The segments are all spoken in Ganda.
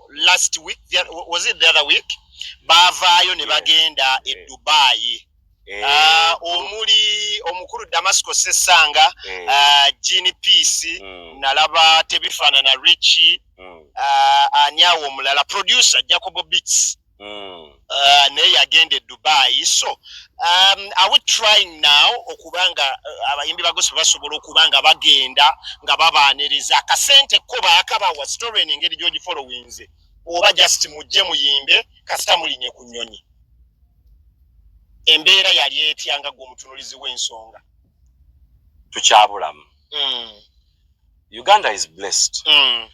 last week was it the other week baavaayo ne bagenda e dubai eh. ah, omuli omukulu damasco sesanga eh. ah, jean peace hmm. nalaba tebifaanana richi hmm. ah, ani awo omulala producer jacobo beats mm. uh, naye yagenda e dubai so um, are we trying now okuba nga uh, abayimbi ba gospel basobola okuba nga bagenda nga babaaniriza akasente ko baakabawa story en engeri gyogifolowinze oba just mujje muyimbe kasita mulinye ku nyonyi embeera yali etya nga gwe omutunulizi w'ensonga tukyabulamu mm. uganda is blessed mm.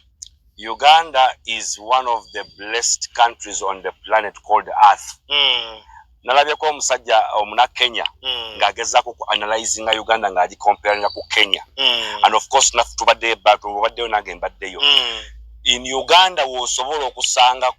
uganda is one of the blessed countries on the planet called earth mm. nalabyeko omusajja omuna kenya mm. ng'agezaako ku analyzinga uganda ng'agi comparinga ku kenya mm. and of course naffe tubaddeyo ebatu obaddeyo nange mbaddeyo mm. in uganda wosobola okusanga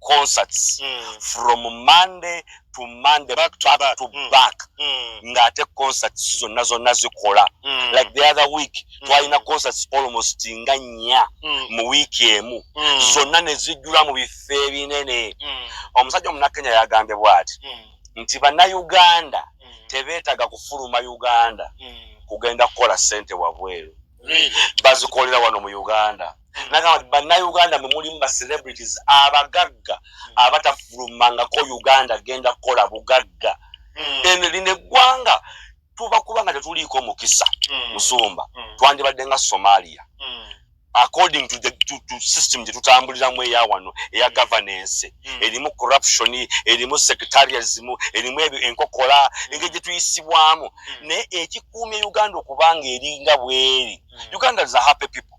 concerts mm. from monday to monday back to back, back. To mm. back. Mm. ng'ate concerts zonna zonna zikola mm. like the other week mm. twalina concerts almost nga nnya mm. mu wiiki emu mm. zonna ne zijjula mu bifo ebinene mm. omusajja omunakenya yagambye bw'ati mm. nti bannayuganda mm. tebeetaga kufuluma uganda mm. kugenda kukola ssente wabweru really? bazikolera wano mu uganda nagamba nti bannayuganda mwe mulimu ba celebrities abagagga abatafulumangako uganda genda kukola bugagga hmm. eno lino eggwanga tuba kuba nga tetuliiko mukisa hmm. musumba hmm. twandibadde nga somalia according to the to, to system gye tutambuliramu eya wano eya governance erimu corruption erimu secretarianism erimu ebyo enkokola engeri gye tuyisibwamu naye ekikuumya uganda okubanga eringa bweri uganda is a happy people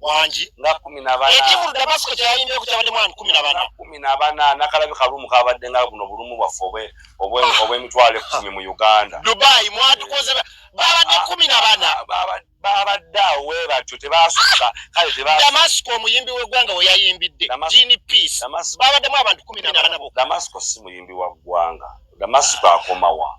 wangi nga kumi nabanekimu damasiko kyeyayimbe ku kyabadde mwani kumi nabana kumi nabana nakalabi kalumu kabadde nga buno bulumu bwaffe obwemitwalo ekumi mu uganda dubai mwatukoze babadde ah, kumi nabana babadde awo webatyo tebasukka kale damasiko omuyimbi wegwanga weyayimbidde jini peace babaddemu abantu kumi nabana bo damasiko si muyimbi wa gwanga damasiko akomawa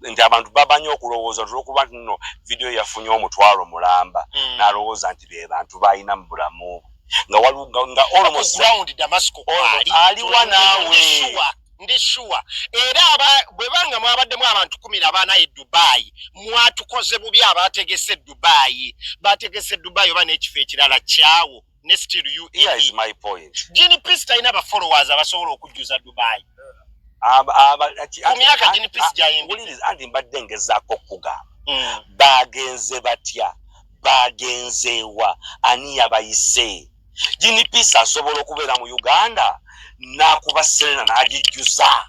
nti abantu babanyi okulowooza tulwokuba nti no vidiyo yafunye omutwalo mulamba mm. nalowooza nti be bantu balina mu bulamu bwe nga waliwo nga aliwa naawe ndi shuwa era bwe banga mwabaddemu abantu kumi na bana e dubayi mwatukoze bubi abategese dubayi bategese dubayi oba n'ekifo ekirala kyawo ne still you here is my point gini peace taina ba followers abasobola okujuza dubai aba aba kumyaka gini peace jaimbi wuli is andi mbadde ngeza ko kuga mm. bagenze batya bagenze wa ani yabayise gini peace asobola okubeera mu uganda nakuba selena nagijuza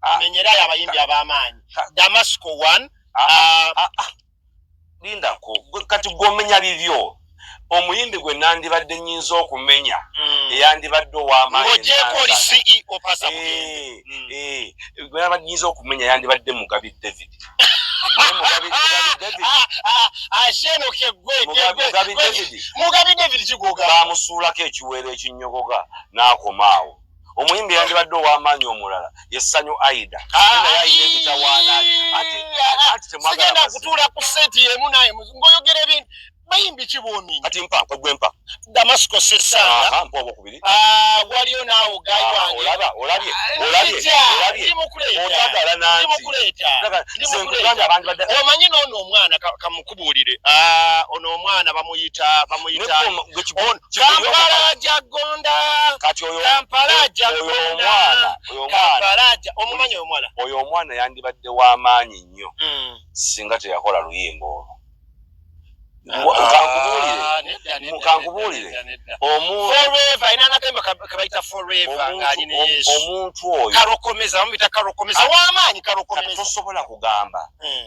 amenyerayo ah, abayimbi ah, ab'amaanyi ah, damasco one lindako kati gwomenya bibyo omuyimbi gwe nandibadde nyinza okumenya hmm. eyandibadde owamanyinza okumenya yandibadde mugabi david bamusuulako ekiweero ekinyogoga n'akomaawo omuyimbi yandibadde ow'amaanyi omulala ye ssanyu aida naye ayina emitawaana sigenda kutuula ku seeti yemu naye ngaoyogera ebintu bayimbi kibwomi kati mpa kwegwe mpa damasiko sesanga mpa obwokubiri ah, waliyo naawo gayi ah, wange olaba olabye ah, olabye olabye ndimukuleeta otagala nanti ndimukuleeta ndimukuleeta abantu badde omanyi n'ono omwana kamukubuulire ono omwana bamuyita bamuyita Kampala aja gonda. Kati oyo Kampala aja gonda. Kampala aja omumanyi omwala. Oyo omwana yandibadde wa maanyi nnyo. Mm. Singa teyakola luyimba olwo. mukankubuulire omuntu oyo tosobola kugamba hmm.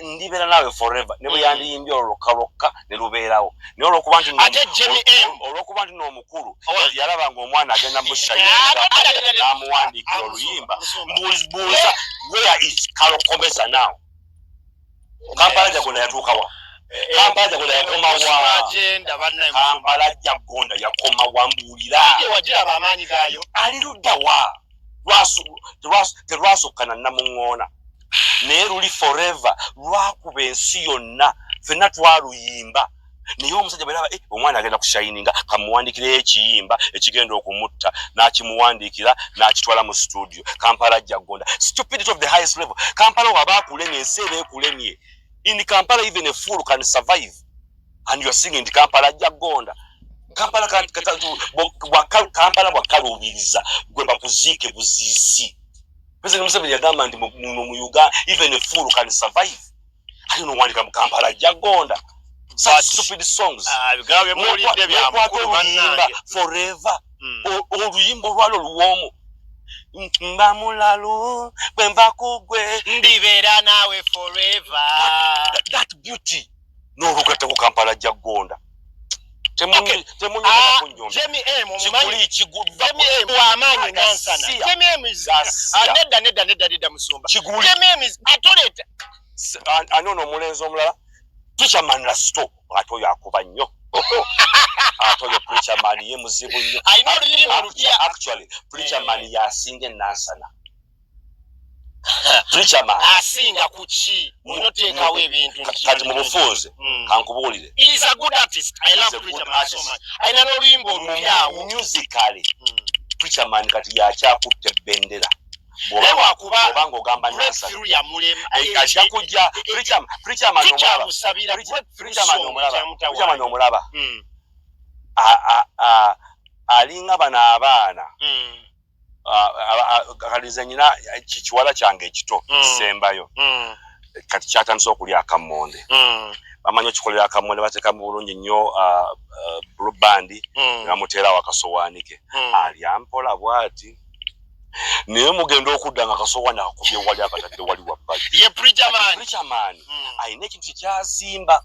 ndibeera naawe forever ne bwe mm. yandiyimbye olwo lwokka lwokka ne lubeerawo naye olwokuba nti olwokuba nti n'omukulu yalaba nga omwana agenda musayiamuwandiikira oluyimba mbuuza where is kalokomesa now kampala jagona yatuukawa eh, eh, kampala jagona eh, yakomawaakampala jagona yakomawa mbuulira ali luddawa terwasokka na namuŋŋoona naye luli foreva lwakuba ensi yonna fenna twaluyimba naye omusajja bweraba eh, omwana agenda kushayininga kamuwandiikireyo ekiyimba ekigenda okumutta n'akimuwandiikira n'akitwala mu situdio kampala ajja gonda stupidity of the highest level kampala waba akulemye ensi eba ekulemye in kampala even a fool can survive and you are singing nti kampala ajja gonda kampala kampala bwakaluubiriza gwe bakuziike buziisi president museveni yagamba nti muno mu uganda even a fool can survive ali nowandika mu kampala ajja gonda stupid songs nekwata oluyimba forever hmm. oluyimba olwalo luwoomu mba mulalu bwemba kugwe ndibeera naawe forever that beauty n'olugatta ku kampala ajja kugonda ani ono omulenzi omulala tichaman lasto ate oyo akuba nnyo ate oyo preacherman ye muzibu nnyo actually preacherman yasinga enansana preacherman asinga ku ki onoteekawo ebintu kati mu bufunze hmm. kankubuulire alina n'oluyimba olupyawo musically hmm. preacherman kati yakyakutte bendera obanga ogamba nasaajja kujja preacherman omulaba hmm. alinga bano abaana kalize nyina kikiwala kyange ekito mm. sembayo mm. kati kyatandise okulya akammonde mm. bamanyi okikolera akammonde bateekamu bulungi nnyo bulubandi ne bamuteerawo akasowaani ke alya mpola bwati naye mugenda okudda nga kasowaani akakubye wali akatadde wali wabbali ye prichamani alina ekintu kyekyazimba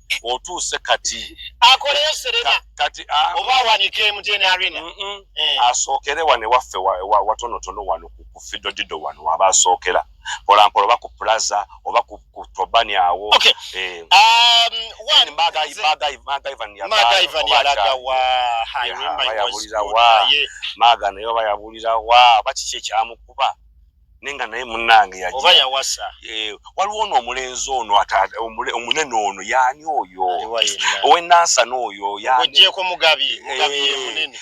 otuuse kati akoleyo serena kati ah. oba awanike emutn arena eh. asookere wano ewaffe watonotono wano ku fidodido wano waba asookera mpolampola oba ku plaza oba ku tobani awo eh. um, maaga naye oba yabulira wa oba kiki ekyamukuba nenga naye munange yaja oba yawasa eh waliwo no omulenzi ono ata omunene ono yani oyo owe nansa no oyo yani oje ko mugabi eh, mugabi ye munene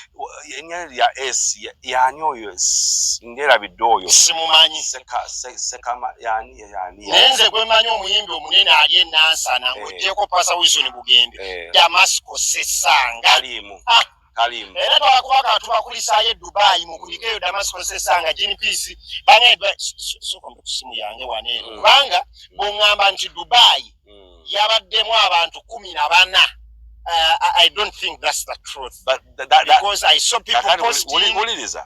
yani ya s yani oyo ngera bidoyo simumanyi seka seka ma yani yani nenze gwe manyi omuyimbi omunene ali nansa na eh. oje ko pasa wiso ni bugembe eh. damascus sesanga alimu ah. kalimu era twakuba ka tubakulisaayo edubayi mukuyika eyo damasikosesa nga gnps banaye soka mu kusimu yange wane eno mm. kubanga bongamba nti dubayi mm. yabaddemu abantu kumi na bana Uh, I don't think that's the truth. But that, that, because I saw people posting. Uliriza.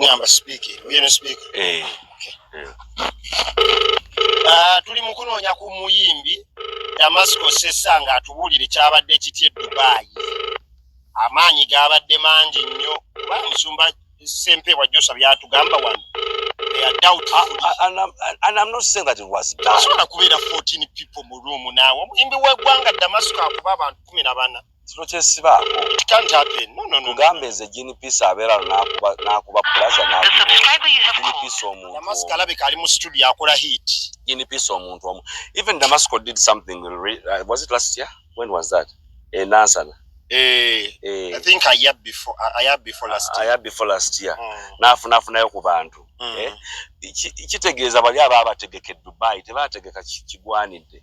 ngamba sipiika eri oyo ne sipiika eh. eh. ah, tuli mu kunoonya ku muyimbi damasiko sessa nga atubuulire kyabadde kitya edubaayi amaanyi gaabadde mangi nnyo kuba musumba sempeebwa josa byatugamba wano asobola kubeera 14 people mu ruumu naawe omuyimbi w'eggwanga damasiko akuba abantu kumi na bana kino kyesibaako tugamba eze ginipisa abeera nakuba pulaza ginipisa omuntuginipisa omuntu omu even damasco did something uh, was it last year when was that enansana eh, Eh, eh. nafunafunayo ku bantu mm. eh? kitegeeza bali aba abategeka edubai tebategeka kigwanidde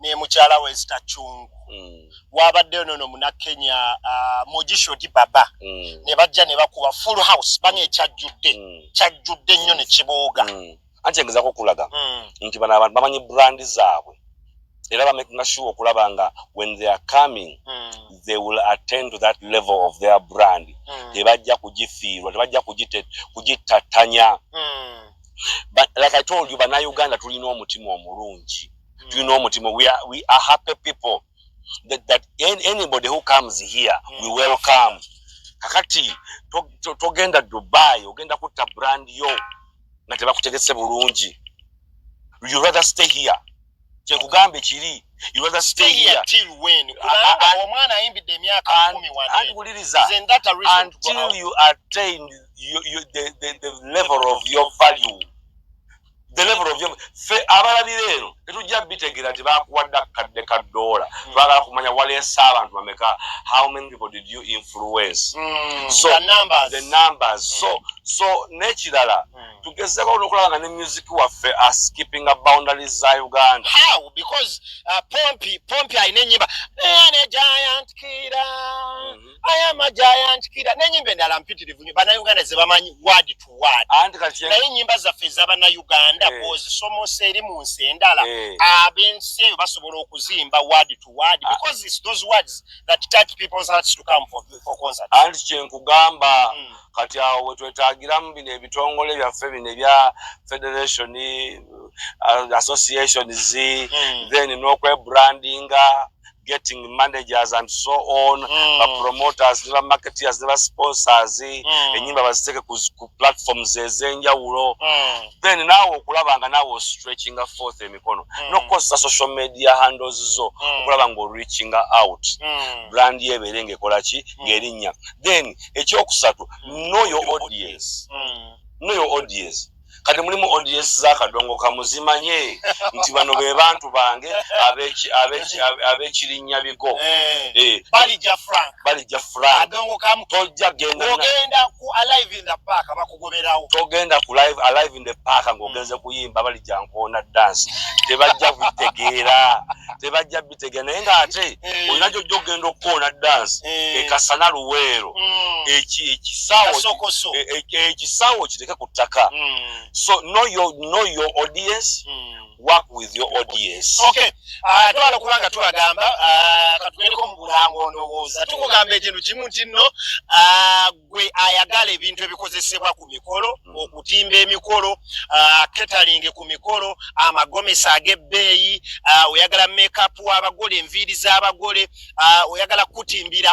ne mukyala we zitachungu mm. wabaddeyo nono munakenya uh, mogisho di baba mm. ne bajja ne bakuba full house bana ekyajjudde mm. kyajjudde nnyo ne kibooga mm. anti engezako okulaga mm. nti bano abantu bamanyi brandi zaabwe era bamakinga sure okulaba nga when they are coming mm. they will attend to that level of their brand mm. tebajja kugifiirwa tebajja kugittattanya mm. like i told you banauganda tulina omutima omulungi you know Mutimo, we are we are happy people that, that anybody who comes here mm. we welcome kakati togenda to, to dubai ogenda kutta brand yo nga tebakutegese bulungi you rather stay here kyekugambye kiri you rather stay here till when kubanga omwana ayimbidde emyaka 10 wano wuliriza until you attain you, you, the, the, the level of your value fe abalabira eno tetujja bitegera nti bakuwadde akadde ka doola hmm. twagala kumanya waleese abantu bameka how many people did you influence hmm. so the numbers so hmm. so nekirala tugezeko nokulaba nga ne music waffe askipping a boundaries za uganda how because uh, pompi pompi alina enyimba ne giant kira mm -hmm. aya amaja ayanjikira nenyimba endala mpitirivu nyo banauganda zebamanyi word to word naye enyimba zaffe ezabanauganda eh. bwozisomosa eri mu nsi endala eh. abensi eyo basobola okuzimba word to word ah. because it's those words that touch people's hearts to come for, for concert anti kyenkugamba mm. kati awo wetwetagiramu bino ebitongole byaffe bino ebya federation uh, associations mm. then nokwebrandinga getting managers and so on mm. bapromoters ne bamarketeers ne basponsors mm. enyimba baziteeke ku, ku platforms ezenjawulo mm. then naawe okulaba nga naawe ostretchinga forth emikono mm. nokukozesa social media handles zo mm. okulaba nga oreachinga out mm. brand yo ebeere ngaekola ki mm. ngaerinnya then ekyokusatu mm. know your audience mm. know your audience kati mulimu odies zakadongo kamuzimanye nti bano be bantu bange abekirinya bigo eh, eh. balija franktogendakugoberaotogenda ku live alive in the park ngaogenze kuyimba balija nkoona dance tebajja kutegeera tebajja bitegera naye ngaate eh. olina gyojja okugenda okukoona dansi eh. ekasana luweero hmm. ekisawo kiteke ku ttaka hmm. so know your audience hmm. work with your audience okay ah, twala kubanga tubagamba ah, katugendeko mu bulango ndowooza tukugamba ekintu kimu kinno ah, gwe ayagala ebintu ebikozesebwa ku mikolo hmm. okutimba emikolo ketalinge ku mikolo amagomesi ag'ebbeeyi oyagala mekapu w'abagole enviiri z'abagole oyagala kutimbira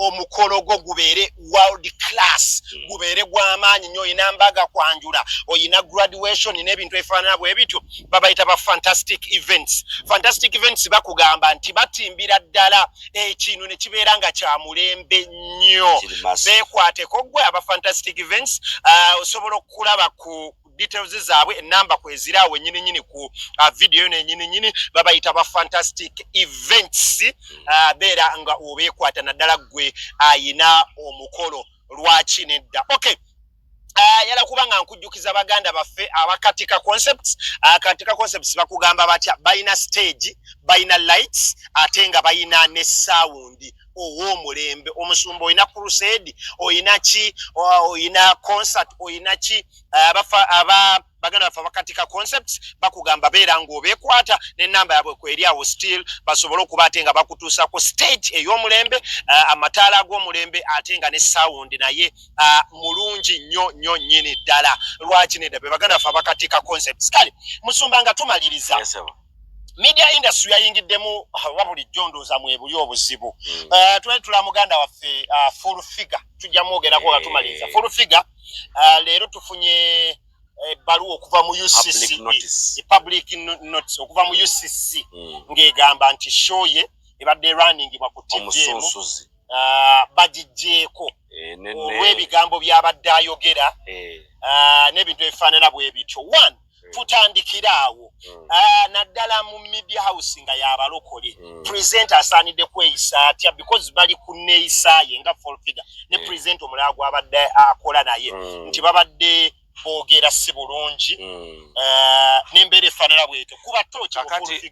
omukolo gwo gubeere world class hmm. gubeere gw'amaanyi nyo oyina mbaga kwanjula oyina graduation n'ebintu ebifaanana bwe bityo babayita ba fantastic events fantastic events bakugamba nti batimbira ddala ekintu ne kibeera nga kya mulembe nnyo beekwateko gwe aba fantastic events uh, osobola okukulaba ku details zaabwe enamba kwezira awo enyini nyini ku uh, video yo nenyini nyini babayita ba fantastic events uh, beera nga obeekwata naddala gwe ayina uh, omukolo lwaki nedda okay ayala kuba nga nkujjukiza baganda baffe abakatika concepts akatika concepts bakugamba batya balina stage balina lights ate nga balina ne sound ow'omulembe omusumba olina crusade olina ki olina concert olina ki abafa aba baganda baffe abakatika concepts bakugamba beera ng'obekwata nenamba yabwe kweri awo still basobole okuba ate nga bakutuusa ku stage ey'omulembe uh, amataala ag'omulembe ate nga ne sound naye uh, mulungi nnyo nnyo nnyini ddala lwaki nedda be baganda baffe abakatika concepts kale musumba nga tumaliriza yes, media industry yayingiddemu oba bulijjo ndooza mwebuli obuzibu mm. uh, twali tula muganda waffe uh, full figure tujja mwogerako nga tumaliriza eh. full figure uh, leero tufunye ebbaluwa eh, okuva mu ucc e public notice okuva mu ucc hmm. ng'egamba nti show ye ebadde erwaningibwa ku tv emu uh, bagigyeko eh, olw'ebigambo by'abadde ayogera eh. uh, n'ebintu ebifaanana bwe bityo one mm. tutandikira awo mm. ah, naddala mu media house nga yabalokole mm. present asaanidde kweyisa atya because bali ku neeyisa ye nga full figure ne present omulala gwabadde akola naye nti babadde boogera si bulungi ah, n'embeera efaanana bwetyo kuba tooki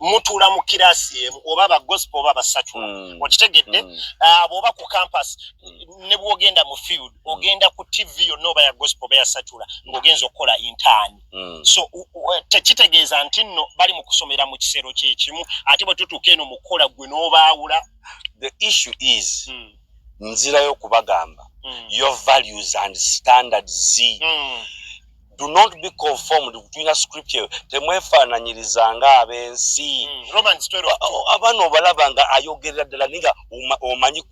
mutuula mu kiraasi emu oba ba gospel oba basatu mm. okitegedde mm. ah, bwoba ku campus mm. ne bwogenda mu field mm. ogenda ku tv yonna oba ya gospel oba yasatula mm. ng'ogenza okukola intaani mm. so tekitegeeza nti nno bali mu kusomera mu kisero kyekimu ate bwe tutuuka eno mu kukola ggwe n'obaawula the issue is mm. nzirayo okubagamba mm. your values and standards mm. do not be conformed tulina scripture temwefaananyirizanga ab'ensi hmm, abaana obalaba nga ayogerera ddala ninga omanyi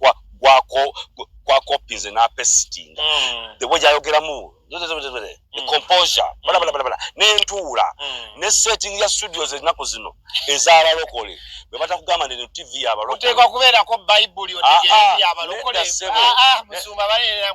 kwakopinze n'apesitinga hmm. the way gyayogeramu hmm. composure balabalabala n'entuula ne setting ya studios ennaku zino ez'abalokole bwe batakugamba nti tv yabalokoleoteekwa kubeerako bayibuli otegeeabalokole ah, ah, musumba baleera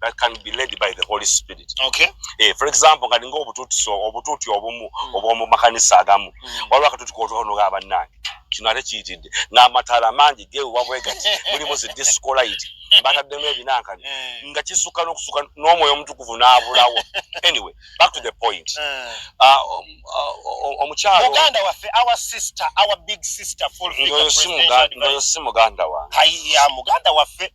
that can be led by the holy spirit okay eh for example kali ngo obututi so obututi obumu mm. obumu makanisa agamu mm. waliwo akatuti kotono ga bannange kino ate kiyitidde ng'amataala mangi ge wewabwegati mulimu zi discolayiti bataddemu ebinankani eh. nga kisukka n'okusuka n'omwoyo omutukuvu n'abulawo anyway back to the point eh. ah, um, ah, omukyalomuganda waffe our sister our big sister fulfilled the presidential advice. Muganda wa. Hai, ya, muganda waffe.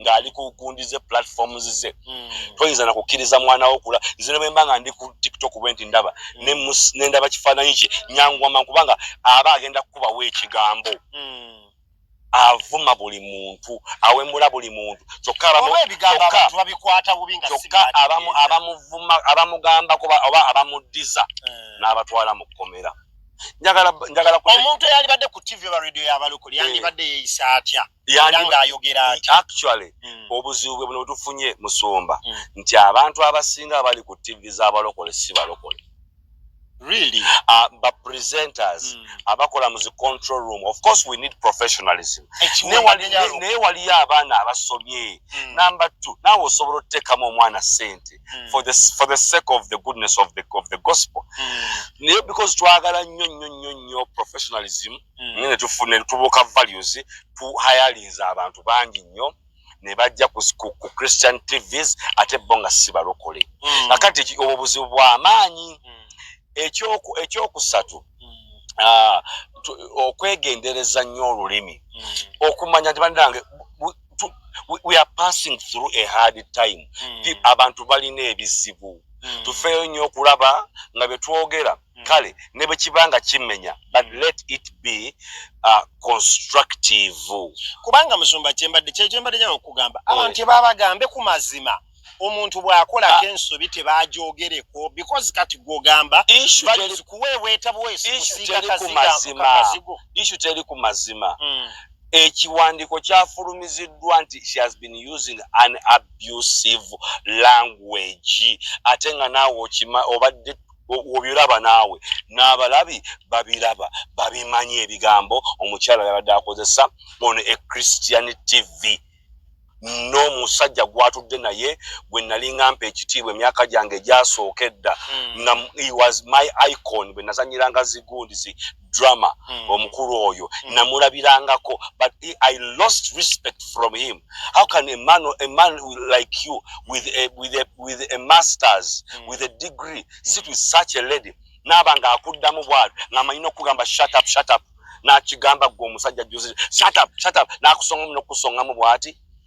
ng'ali ku gundi ze platforms ze hmm. toyinza na kukkiriza mwana wo kula nze bwe mba nga ndi ku tiktok bwe nti ndaba hmm. ne ndaba kifaananyi kye nyangwama kubanga aba agenda kukubawo ekigambo hmm. avuma buli muntu awemula buli muntu kyokka abamuvuma abamugamba kuba oba abamuddiza eh. n'abatwala mu kkomera njagala njagala omuntu eyalibadde ku tv oba radio yabalokole yandibadde eh. yeeyisa atya yali ng'ayogera nti actually mm. obuzibu bwe buno tufunye musumba mm. nti abantu abasinga abali ku tivi z'abalokole si balokole really uh, but presenters mm. abakola mu zi control room of course we need professionalism naye waliyo abaana abasomye mm. number two naawe osobola otuteekamu omwana sente mm. for, for the sake of the goodness of the, of the gospel mm. naye because twagala nnyo nnyo nnyo nnyo professionalism mm. mm. naye netufuna netubuuka values tu hayalinze abantu bangi nnyo ne bajja ku christian tvs ate bo nga si balokole mm. akati obwo buzibu bwamaanyi mm. ekyokusatu ah, okwegendereza nnyo olulimi okumanya nti banange we are passing through a hard time abantu balina ebizibu tufeeyo nnyo okulaba nga betwogera mm. mm. kale ne bwe kiba nga kimenya but mm. let it be uh, constructive kubanga musumba kyembadde kyekyembadde nyala okugamba eh. abantu tebabagambe ku mazima omuntu bwakolako ah. ensobi tebajogereko because kati gwogamba kuweebwetabwesiiazigo isu teri ku mazima mm. ekiwandiiko kyafulumiziddwa nti she has been using an abusive language ate nga naawe okima obadde wobiraba naawe n'abalabi babiraba babimanyi ebigambo omukyala yabadde akozesa ono e christian tv n'omusajja gwatudde naye gwe nalinga mpa ekitiibwa emyaka gyange egyasooka edda hmm. nga was my icon bwe nazanyiranga zigundi drama mm. omukulu oyo mm. namulabirangako but he, i lost respect from him how can a man, a man like you with a, with a, with a masters mm. with a degree mm. sit with such a lady naaba nga akuddamu bwalo ngaamanyi nokugamba shut up shut up nakigamba gwe omusajja juzi shut up shut up nakusongamu nokusongamu bwati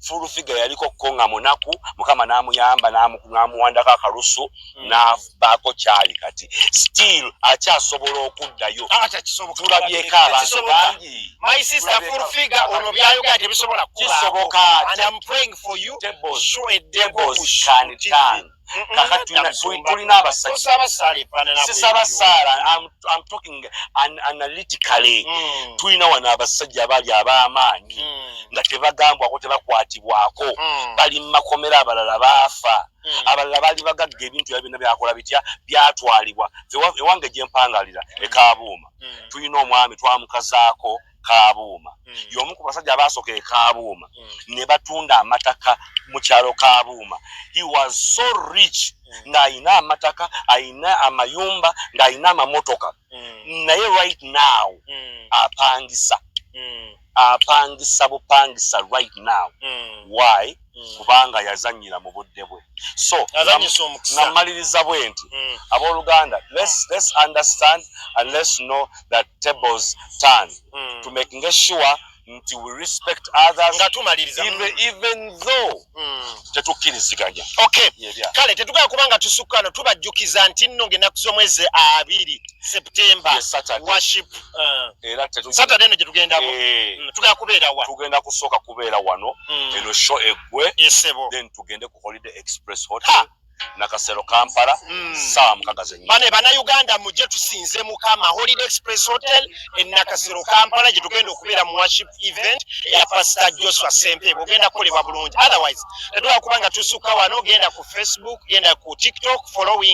full figure yaliko ko nga munaku mukama namuyamba namuwandako akalusu mm. navaako kyali kati still akyasobola okuddayo ah, tulabyeko abantu bangi kisoboka tulina abasajjasisaba saala am talking analytically hmm. tulina wano abasajja abali ab'amaanyi hmm. nga tebagambwako tebakwatibwako hmm. bali mu makomera abalala baafa Hmm. abalala baali bagagga ebintu ya byonna byakola bitya byatwalibwa ewange gye mpangalira hmm. ekaabuuma hmm. tulina omwami twamukazaako kabuuma mm. y'omu ku basajja abaasoka ekabuuma mm. ne batunda amataka mu kyalo kabuuma he was so rich mm. ng'alina amataka alina amayumba ng'alina amamotoka mm. naye right now mm. apangisa mm. apangisa bupangisa right now mm. why mm. kubanga yazanyira mu budde bwe so namaliriza bwe nti mm. abooluganda let's understand and let's know that tables turn mm. to making sure nti we respect others nga tumaliriza even, even though tetukkiriziganya okay kale tetugala kubanga tusukkano tubajjukiza nti nno ngaenaku z'omwezi abiri September yes, Saturday. worship uh, era tetu Saturday ne tugenda mu eh. mm, tugenda kubeera wa tugenda kusoka kubeera wano mm. eno show egwe isebo then tugende ku holiday express hotel ha. na kasero kampala mm. saa mukaga zenye bane bana uganda muje tusinze mukama holiday express hotel en na kasero kampala je tugenda okubeera mu worship event ya pastor joshua sempe bugenda kolebwa bulungi otherwise tetwa kubanga tusuka wano genda ku facebook genda ku tiktok following